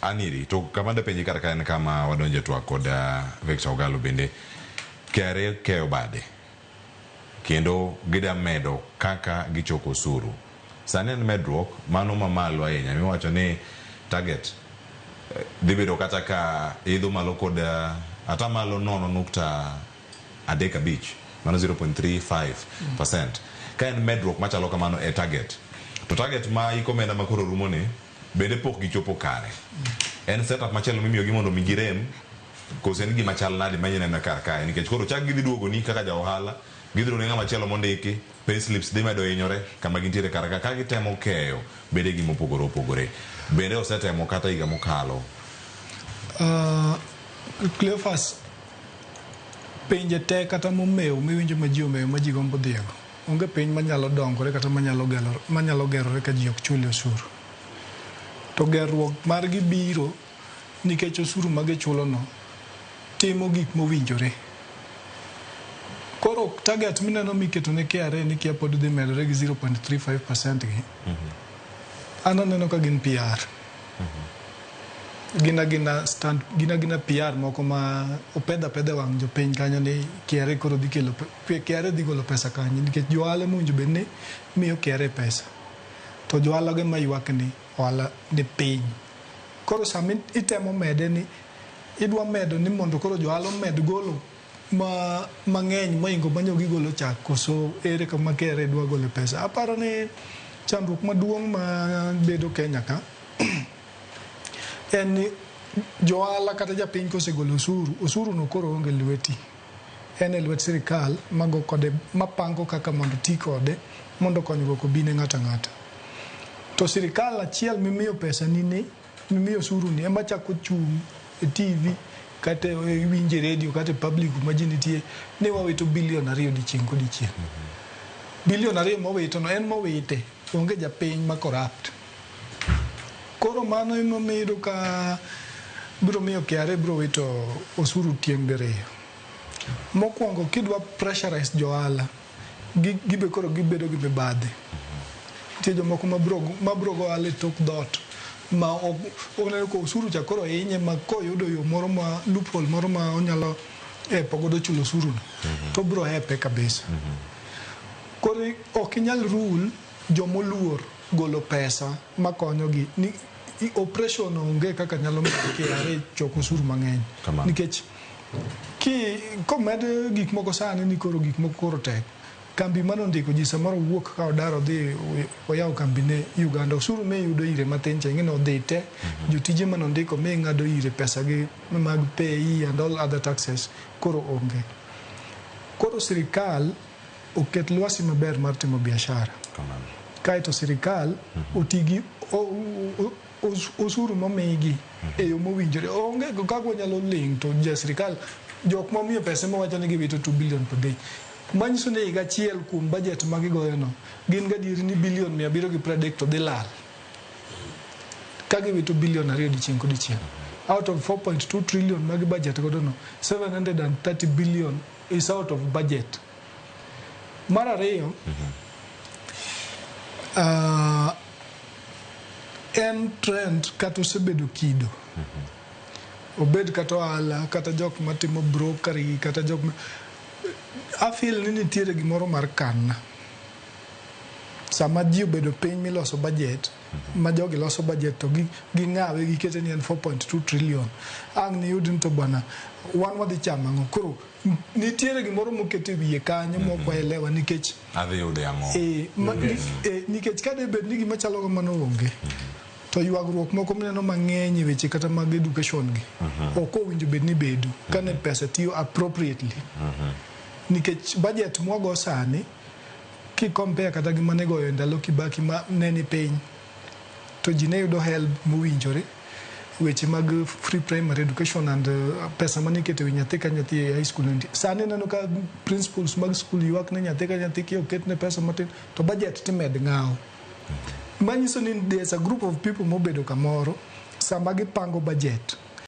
Aniri to kama da penye kar ka en kama wadonje twak kod Victor Ogalo bende KRA keyo bade kendo gida medo kaka gichoko osuru. Sani en medruok mano mamalo ahinya miwacho ni target dhi bedo kata ka idho malo kod atamalo nono nukta adek abich mano 0.35%. Ka en medruok machalo kamano e target to target ma iko omenda makoro rumo ni bende pok gichopo kare. En setup machielo mimiyogi mondo mi girem kose en gima chal nade manya neno kar kae nikech koro chak gidhi duogoni kaka ja ohala gidhi ne ng'ama chielo mondiki pay slips dhi medo hinyore kama gintiere kar ka ka gitemo keyo bede gima opogore opogore bende osetemo kata higa mokalo uh, Cleophas penje te kata momew miwinjo ma ji omew ma ji gombo dhiego Onge piny manyalo dongore kata manyalo gerore ka ji ok chule osuru. To gerruok margi biro nikech osuru ma gichulono timo gik mowinjore. Koro target mineno miketo ne KRA ni kia pod dhi medore gi 0.35% gi, an aneno ka gin PR. gina gina stand gina gina PR moko ma opedha pedha wang' jopiny kanyo ni KRA koro dhi kelo pe- KRA dhi golo pesa kanyo nikech johala mowinjo bed ni miyo KRA pesa to johala ge maywak ni ohala ni piny koro sama itemo mede ni idwa medo ni mondo koro johala omed golo ma mang'eny moingo manyo gigolo chak koso ere kama KRA dwa gole pesa. Aparo ni chandruok maduong' ma bedo Kenya ka en ni johala kata japiny kosegolo osuru, osuru no koro onge lweti. En e lwet sirikal mago kode mapango kaka mondo ti kode mondo konyruok obi ne ng'ata ng'ata. To sirikal achiel mimiyo pesa ni ni Mimiyo osuru ni ema chako chung' e TV kata e- iwinje redio kata e public kuma ji nitie ni wawito bilion ariyo dichieng' kodichieng'. Bilion ariyo mowitono en mowite, onge japiny ma corrupt. Koro mano emomiyo iyudo ka biro miyo KRA biro wito osuru tieng' diriyo. Mokwongo kidwa pressurize jo ohala, Gi, gibe koro gibedo gi mibadhi. Nitie jomoko ma bro, ma bro go ohala e tok dhoot. Ma ok, oneno ka osuru cha koro hinye ma koyudo yo moro ma, loophole moro ma onyalo hepo godo chulo osuru no, to obro hepe kabisa. Koro i- ok inyal rule jomoluor golo pesa ma konyogi. Ni, i- oppression onge kaka nyalo miyo KRA choko osuru mang'eny. Kamano. Nikech Ki komed gik moko sani ni koro gik moko koro tek. Kambi mane ondiko ji samoro wuok ka odar odhi oyawo kambi ne Uganda. Osuru miyudo ire matin cha ing'e ni odhi te. Mhm. Jotije mane ondiko mi ng'ado ire pesa gi mag pay and all other taxes koro onge. Koro sirikal oket lwasi maber mar timo biashara. Kaeto sirikal mhm. otigi osuru momigi e yo mowinjore onge kaka wanyalo ling to ja sirikal jok momiyo pesa ema wacho ni giwito 2 billion per day manyiso ni higa achiel kuom budget ma gigoyono gin gadieri ni bilion mia abiriyo gi piero adek to dhi lal ka giwito bilion ariyo dichieng' kodichieng' out of 4.2 trillion magi budget godono 730 billion is out of budget Mar ariyo, ah, en trend kata osebedo kido. Obed kata ohala, kata jok matimo brokery, kata jok ma... I feel ni nitiere gimoro mar kanna. Sama ji obedo piny miloso budget, ma jogi loso budget to gi- ging'awe gikete ni en 4.2 trillion. Ang' niyud ni to bwana, wan wadhi chamo ang'o? Koro nitiere gimoro moket e wiye kanyo mm -hmm. mok waelewa nikech adhi yude ang'o e, ma, mm -hmm. e, nikech ka de bed ni gima chalo kamano onge mm -hmm. to ywagruok moko mineno mang'eny e weche kata mag education gi mm -hmm. ok owinjo bed ni bedo mhm. kane mm -hmm. pesa tiyo appropriately mm -hmm. nikech budget mwago sani kikompea kata gi mane goyo e ndalo kibaki ma ne ni piny to ji ne yudo helb mowinjore. Weche mag free primary education and uh, pesa mane iketo ewi nyathi ka nyathi e high school endi. Sani ineno ka principals mag school ywak ne nyathi ka nyathi ki oket ne pesa matin to budget timed ng'awo. Manyiso ni there's a group of people mobedo kamoro sama gipango budget.